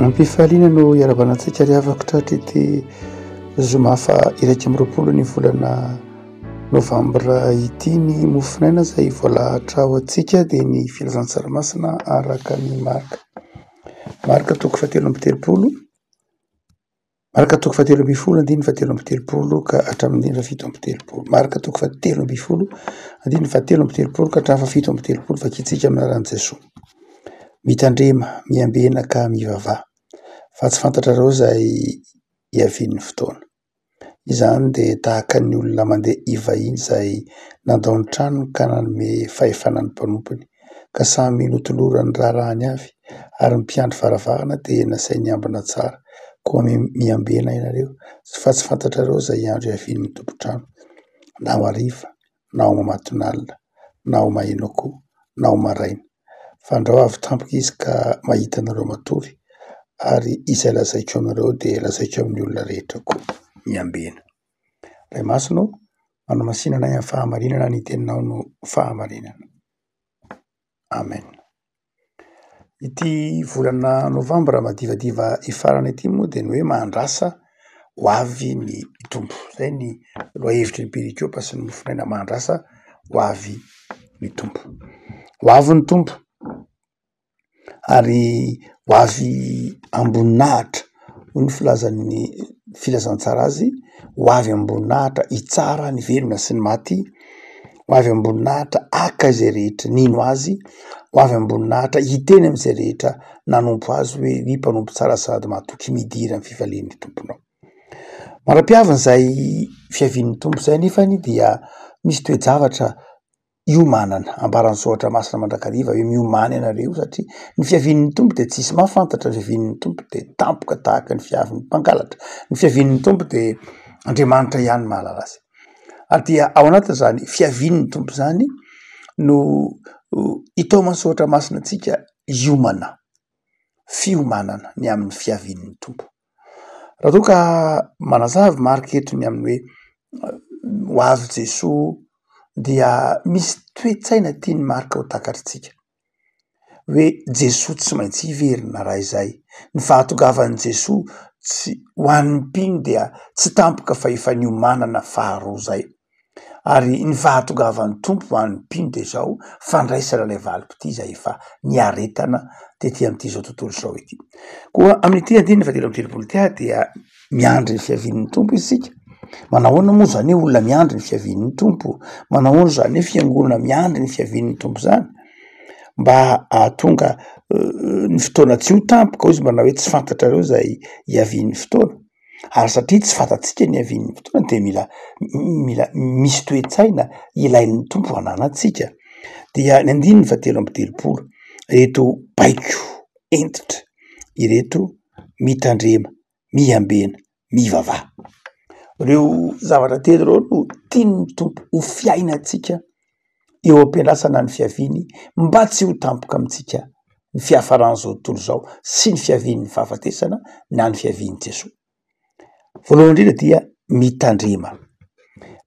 Ampifaliana no hiaravana antsika ry havako tratr'ity zoma faha iraika amby roapolo ny volana novambra ity ny mofonaina izay voalahatra ho antsika dia ny filazan-tsarimasina araka ny marika marika toko fahatelo amby telopolo Marka toko fahatelo ambin'ny folo andininy fahatelo amby telopolo ka hatramin'ny andininy fahafito amby telopolo. Marka toko fahatelo ambin'ny folo andininy fahatelo amby telopolo ka hatramin'ny fahafito amby telopolo. Vakintsika amin'ny anaran'i Jesoa. Mitandrema, miambena ka mivavaha. Fa tsy fantatrareo izay hiavian'ny fotoana. Izany dia tahaka ny olona mandeha hivahiny izay nandao ny tranony ka nanome fahefana ny mpanompony ka samy notoloran' ny raharahany avy, ary ny mpiandry varavarana dia nasainy hiambina tsara, koa miambena ianareo, fa tsy fantatrareo izay andro hiavian' ny tompon-trano, na ho hariva, na ho mamatonalina, na ho mahenoakoa, na ho maraina, fa andrao avy tampoka izy ka mahita anareo matory, ary izay lazaiko aminareo dia lazaiko amin' ny olona rehetra koa miambena. Ray masina ô! Manamasinana ahy amin'ny fahamarinana ny teninao no fahamarinana. Amen. Ity volana novambra madivadiva hifarana ity moa dia ny hoe Mahandrasa ho avy ny Tompo. Izay ny lohahevitry ny Perikiopa sy ny mofonaina, Mahandrasa ho avy ny Tompo. Ho avy ny Tompo. ary ho avy am-boninahitra hoy ny filazan'ny filazantsara azy ho avy am-boninahitra hitsara ny velona sy ny maty, ho avy am-boninahitra haka izay rehetra nino azy, ho avy am-boninahitra hiteny amin'izay rehetra nanompo azy hoe ny mpanompo tsara sady mahatoky midira ny fifalian'ny tomponao. Manam-piavin'izay fiavian'ny tompo izay nefany dia misy toe-javatra hiomanana. Ambaran'ny soratra masina mandrakariva hoe miomana ianareo satria ny fiavian'ny Tompo dia tsy hisy mahafantatra, ny fiavian'ny Tompo dia tampoka tahaka ny fiavin'ny mpangalatra, ny fiavian'ny Tompo dia Andriamanitra ihany no mahalala azy. Ary dia ao anatin'izany fiavian'ny Tompo izany no itaoman'ny soratra masina antsika hiomana, fiomanana ny amin'ny fiavian'ny Tompo. Raha toa ka manazava marc eto ny amin'ny hoe ho avy Jesoa dia misy toe-tsaina tian'i Marc ho takatr'isika hoe Jesoa tsy maintsy hiverina raha izay. Ny fahatongavan'i Jesoa tsy ho an'ny mpino dia tsy tampoka fa efa niomanana faharoa izay. ary ny fahatongavan'ny Tompo ho an'ny mpino dia izao, fandraisana ilay valim-pitia izay efa niaretana tety amin'ity izao tontolo izao ity. Koa amin'ity andininy fahatelo amby telopolo ity ary dia miandry ny fiavian'ny Tompo isika. Manahoana moa izany hoe olona miandry ny fiavian'ny Tompo? Manahoana izany hoe fiangonana miandry ny fiavian'ny Tompo izany? Mba hahatonga ny fotoana tsy ho tampoka, hoy izy, manao hoe tsy fantatrareo izay hiavian'ny fotoana. ary satria tsy fantatsika ny havian'ny fotoana dia mila mila misy toe-tsaina ilain'ny Tompo hananantsika dia ny andininy fahatelo amby telopolo ireto baiko entitra ireto mitandrema miambena mivavaha ireo zavatra telo ireo no tian'ny Tompo ho fiainantsika eo am-piandrasana ny fiaviany mba tsy ho tampoka amintsika ny fiafaran'izao tontolo izao sy ny fiavian'ny fahafatesana na ny fiavian'i Jesoa. Voalohany indrindra dia mitandrema.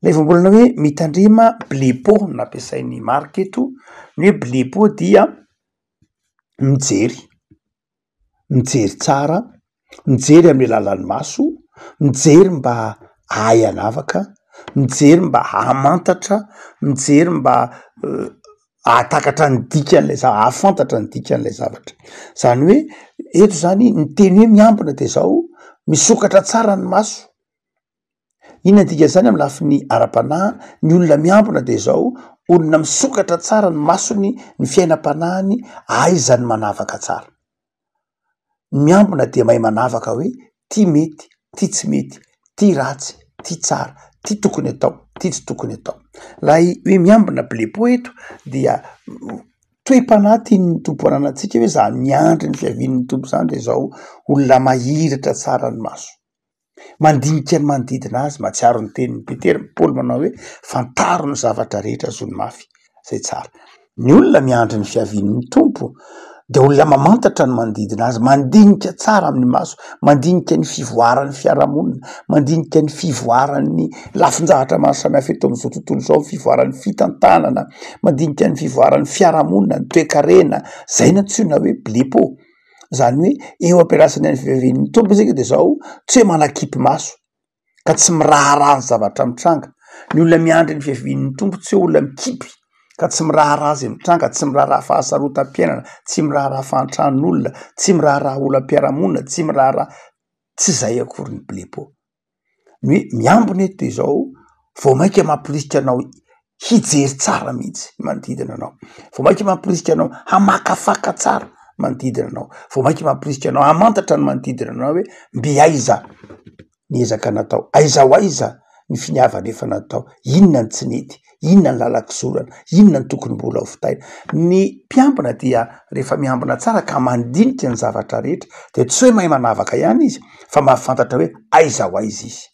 Ilay voambolana hoe mitandrema blepo nampiasain'ny Marc eto, ny hoe blepo dia mijery. mijery tsara, mijery amin'ny alalan'ny maso, mijery mba hahay hanavaka, mijery mba hahamantatra, mijery mba hahatakatra ny dikan'ilay za- hahafantatra ny dikan'ilay zavatra. Zany hoe eto zany ny teny hoe miambina de zao, misokatra tsara ny maso. Inona ny dikan'izany amin'ny lafiny ara-panahy? Ny olona miambina dia izao, olona misokatra tsara ny masony, ny fiainam-panahiny, ahaizany manavaka tsara. Ny miambina dia mahay manavaka hoe ty mety, ty tsy mety, ty ratsy, ty tsara, ty tokony atao, ty tsy tokony atao. Ilay hoe miambina blepo eto dia toe-panahy tian'ny Tompo ananantsika hoe za miandry ny fiavian'ny Tompo izany dia izao, olona mahiratra tsara ny maso. Mandinika ny manodidina azy, mahatsiaro ny tenin'i Petera, Paoly manao hoe, fantaro ny zavatra rehetra azony mafy izay tsara. Ny olona miandry ny fiavian'ny Tompo dia olona mamantatra ny manodidina azy, mandinika tsara amin'ny maso, mandinika ny fivoaran'ny fiarahamonina, mandinika ny fivoaran'ny lafin-jahatra maro samihafa eto amin'izao tontolo izao, ny fivoaran'ny fitantanana, mandinika ny fivoaran'ny fiarahamonina, ny toekarena, izay no antsoina hoe blepo. zany hoe eo ampiandrasana ny fiveren'ny tompo isika de zao tsy hoe manakipy maso ka tsy miraharaha ny zavatra mitranga ny olona miandry ny fiavian'ny tompo tsy hoe olona mikipy ka tsy miraharaha zay mitranga tsy miraharaha fahasarotam-piainana tsy miraharaha fahantran'olona tsy miraharaha olam-piarahamonina tsy miraharaha tsy zay akory ny blepo ny hoe miambina eto de zao vao mainka mamporisika anao hijery tsara mihitsy ny manodidina anao, vao mainka mamporisika anao hamakafaka tsara manodidina anao, vao mainka mamporisika anao hamantatra ny manodidina anao hoe mbe aiza ny ezaka natao, aiza ho aiza ny finiavana efa natao, inona ny tsy nety. inona ny lalan-kizorana, inona ny tokony mbola ho vitaina. Ny mpiambina dia rehefa miambina tsara ka mandinika ny zavatra rehetra dia tsy hoe mahay manavaka ihany izy fa mahafantatra hoe aiza ho aiza izy,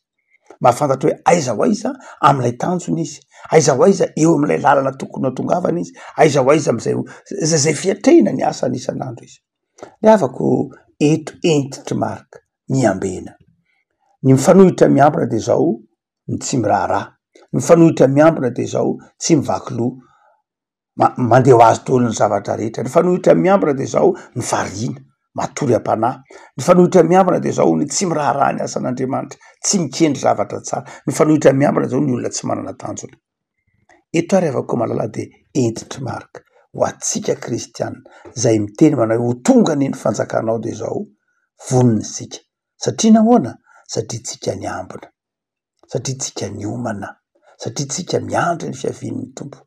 mahafantatra hoe aiza ho aiza amin'ilay tanjona izy, aiza ho aiza eo amin'ilay lalana tokony hatongavana izy, aiza ho aiza amin'izay izay fiatrehina ny asany isan'andro izy. Ny havako eto entitry Marc, miambena. Ny mifanohitra miambina dia izao, ny tsy miraharaha. Mifanohitra miambina dia izao, tsy mivaky loha, ma- mandeha ho azy daholo ny zavatra rehetra. Mifanohitra miambina dia izao ny variana, matory am-panahy. Mifanohitra miambina dia izao ny tsy miraharaha ny asan'Andriamanitra, tsy mikendry zavatra tsara. Mifanohitra miambina izao ny olona tsy manana tanjona. Eto ary avy koa malala dia hentitry Marka ho antsika kristiana izay miteny manao hoe ho tonga anie ny fanjakanao dia izao vonona isika Satria nahoana? Satria tsika niambina. Satria tsika niomana. Satria tsika miandry ny fiavian'ny Tompo.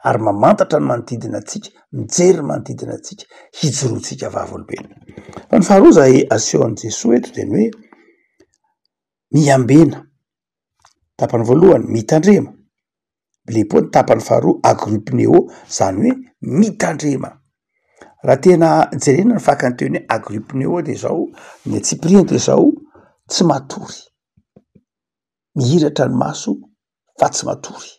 Ary mamantatra ny manodidina antsika, mijery ny manodidina antsika, hijoroantsika vavolombelona. Fa ny faharoa izay asehon'i Jesoa eto dia ny hoe, miambena. tapany voalohany mitandrema, blepo ny tapany faharoa agripneo zany hoe mitandrema, raha tena jerena ny fakany teo ny hoe agripneo de zao ny antsipiriany de zao tsy matory, mihiratra ny maso fa tsy matory.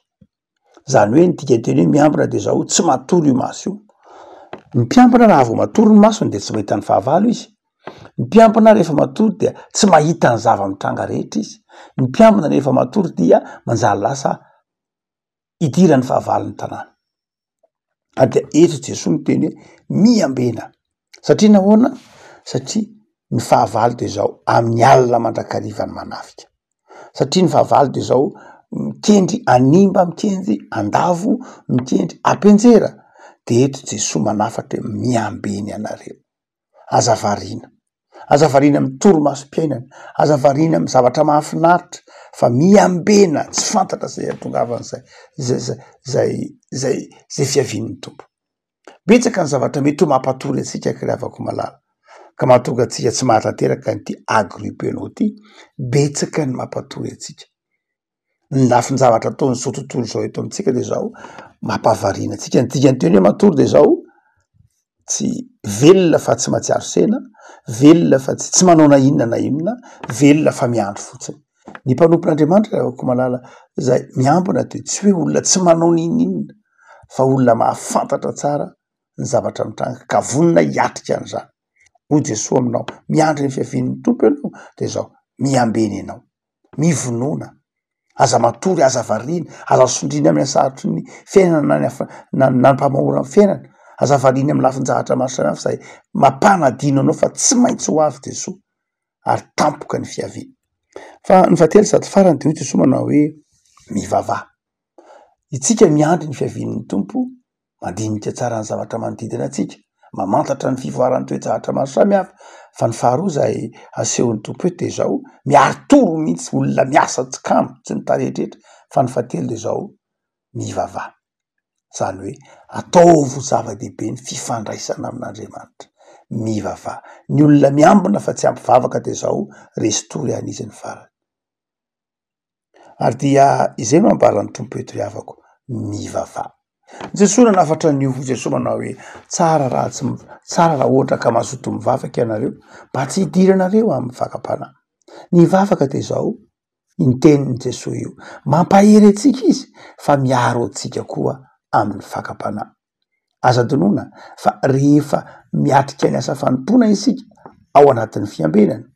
Zany hoe ny dikanteny hoe miambina de zao, tsy matory io maso io. Ny mpiambina raha vao matory ny masony de tsy mahita ny fahavalo izy. Ny mpiambina rehefa matory dia tsy mahita ny zava-mitranga rehetra izy. Ny mpiambina rehefa matory dia manjary lasa idiran'ny fahavalon'ny tanàna. ary dia eto Jesoa miteny hoe miambena satria nahoana satria ny fahavalo de zao amin'ny alina mandrakariva ny manafika satria ny fahavalo de zao mikendry animba mikendry andavo mikendry ampianjera de eto Jesoa manafatra hoe miambena ianareo. Aza variana. Aza variana amin'ny torimasom-piainana. Aza variana amin'ny zavatra mahafinaritra fa miambena tsy fantatra izay ihatongavan'izay izay izay izay izay izay fiavian'ny Tompo. Betsaka ny zavatra mety ho mampatory antsika ry havako malala ka mahatonga antsika tsy mahatanteraka an'ity agrupe anao ity. Betsaka ny mampatory antsika. ny lafin-javatra ataon'izao tontolo izao eto amintsika dia izao mampahavariana antsika. Ny dikan-teny hoe matory dia izao tsy velona fa tsy mahatsiaro sena, velona fa tsy tsy manao na inona na inona, velona fa miandry fotsiny. Ny mpanompon'Andriamanitra hoy koa malala izay miambina dia tsy hoe olona tsy manao na inona na inona fa olona mahafantatra tsara ny zavatra mitranga ka vonona hiatrika an'izany. Hoy Jesoa aminao miandry ny fiavian'ny Tompo ianao dia izao miambena ianao. mivonona, aza matory, aza variana, aza sondriana amin'ny hasarotry ny fiainana na fa na ny mpamahora ny fiainana, aza variana amin'ny lafin-jahatra maro samihafa izay mampanadino anao fa tsy maintsy ho avy Jesoa ary tampoka ny fiaviany. Fa ny fahatelo sady farany dia hoy Jesoa manao hoe mivavaha. Itsika miandry ny fiavian'ny Tompo. mandinika tsara ny zavatra manodidina antsika, mamantatra ny fivoaran'ny toe-javatra maro samihafa fa ny faharoa izay asehon'ny Tompo eto dia izao, miari-toro mihitsy olona miasa tsy kamo tsy ny tarehitrehitra fa ny fahatelo dia izao, mivavaha izany hoe ataovy ho zava-dehibe ny fifandraisana amin'Andriamanitra, mivavaha, ny olona miambina fa tsy ampivavaka dia izao, resy tory an'izy ny farany. ary dia izay no ambaran'ny Tompo eto ry havako, mivavaha. Jesoa nanafatra an'io, Jesoa manao hoe tsara raha tsy m- tsara raha ohatra ka mazoto mivavaka ianareo mba tsy hidiranareo amin'ny fakam-panahy. Ny vavaka dia izao, io tenin'i Jesoa io, mampahery antsika izy fa miaro antsika koa amin'ny fakam-panahy. Aza adinoina fa rehefa miatrika ny asa fanompoana isika ao anatin'ny fiambenana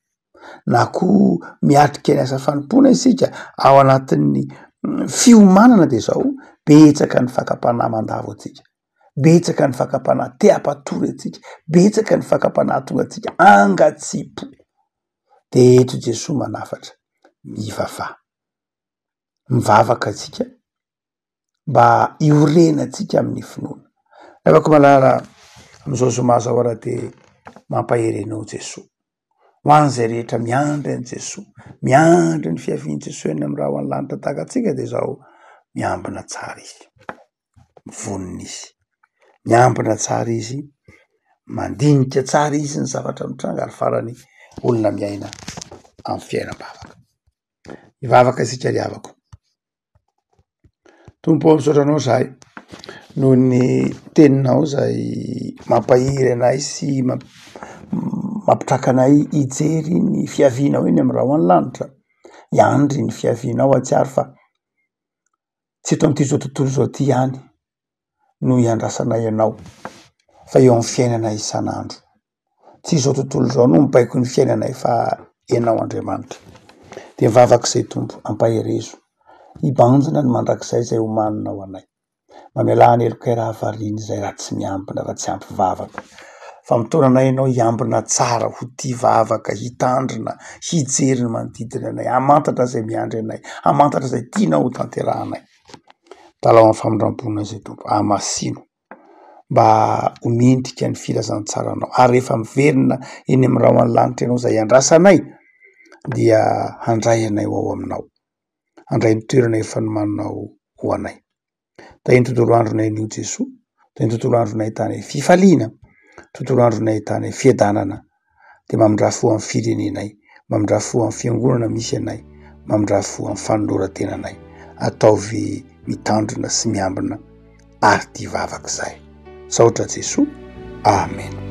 na koa miatrika ny asa fanompoana isika ao anatin'ny mm, fiomanana dia izao betsaka ny fakam-panahy mandavo antsika betsaka ny fakam-panahy te hampatory antsika betsaka ny fakam-panahy tonga antsika angatsipo de eto Jesoa manafatra mivavaha mivavaka antsika mba hiorenantsika amin'ny finoana. Ry havako malala, amin'izao zoma izao ary dia mampahery anao Jesoa. Ho an'izay rehetra miandry an'i Jesoa, miandry ny fiavian'i Jesoa eny amin'ny rahona lanitra tahaka antsika dia izao miambina tsara izy, vonona izy, miambina tsara izy, mandinika tsara izy ny zavatra mitranga ary farany olona miaina amin'ny fiainam-bavaka. Hivavaka isika ry havako. Tompo ô misaotra anao zahay noho ny teninao izay mampahery anay sy mamp- mampitraka anay hijery ny fiavianao eny amin'ny rahona lanitra. Hiandry ny fiavianao atsy àry fa tsy eto amin'ity tontolo izao ty ihany no iandrasanay anao fa eo amin'ny fiainanay isan'andro. tsy izao tontolo izao no mibaiko ny fiainanay fa Ianao Andriamanitra. Dia vavaka izay Tompo, ampaherezo. Hibanjina ny mandrakizay izay homanina ho anay. Mamelà ny helokay raha variana izay raha tsy miambina, raha tsy ampy vavaka. Fa mitaona anay Ianao hiambina tsara, ho tia vavaka, hitandrina, hijery ny manodidina anay, hamantatra izay miandry anay, hamantatra izay tianao hotanterahanay. Dalao amin'ny famindram-ponay izay Tompo, hahamasino. mba ho mendrika ny filazantsaranao ary rehefa miverina eny amin'ny rahona lanitra ianao izay andrasanay dia handray anay ho ao aminao handray ny toerana efa nomaninao ho anay dia ny tontolo andronay anio Jesoa dia ny tontolo andronay tany fifaliana tontolo andronay tany fiadanana dia mamindrà fo amin'ny firenenay, mamindrà fo amin'ny fiangonana misy anay, mamindrà fo amin'ny fanoloran-tenanay. Ataovy mitandrina sy miambina ary tia vavaka izahay. Misaotra Jesoa. Amena.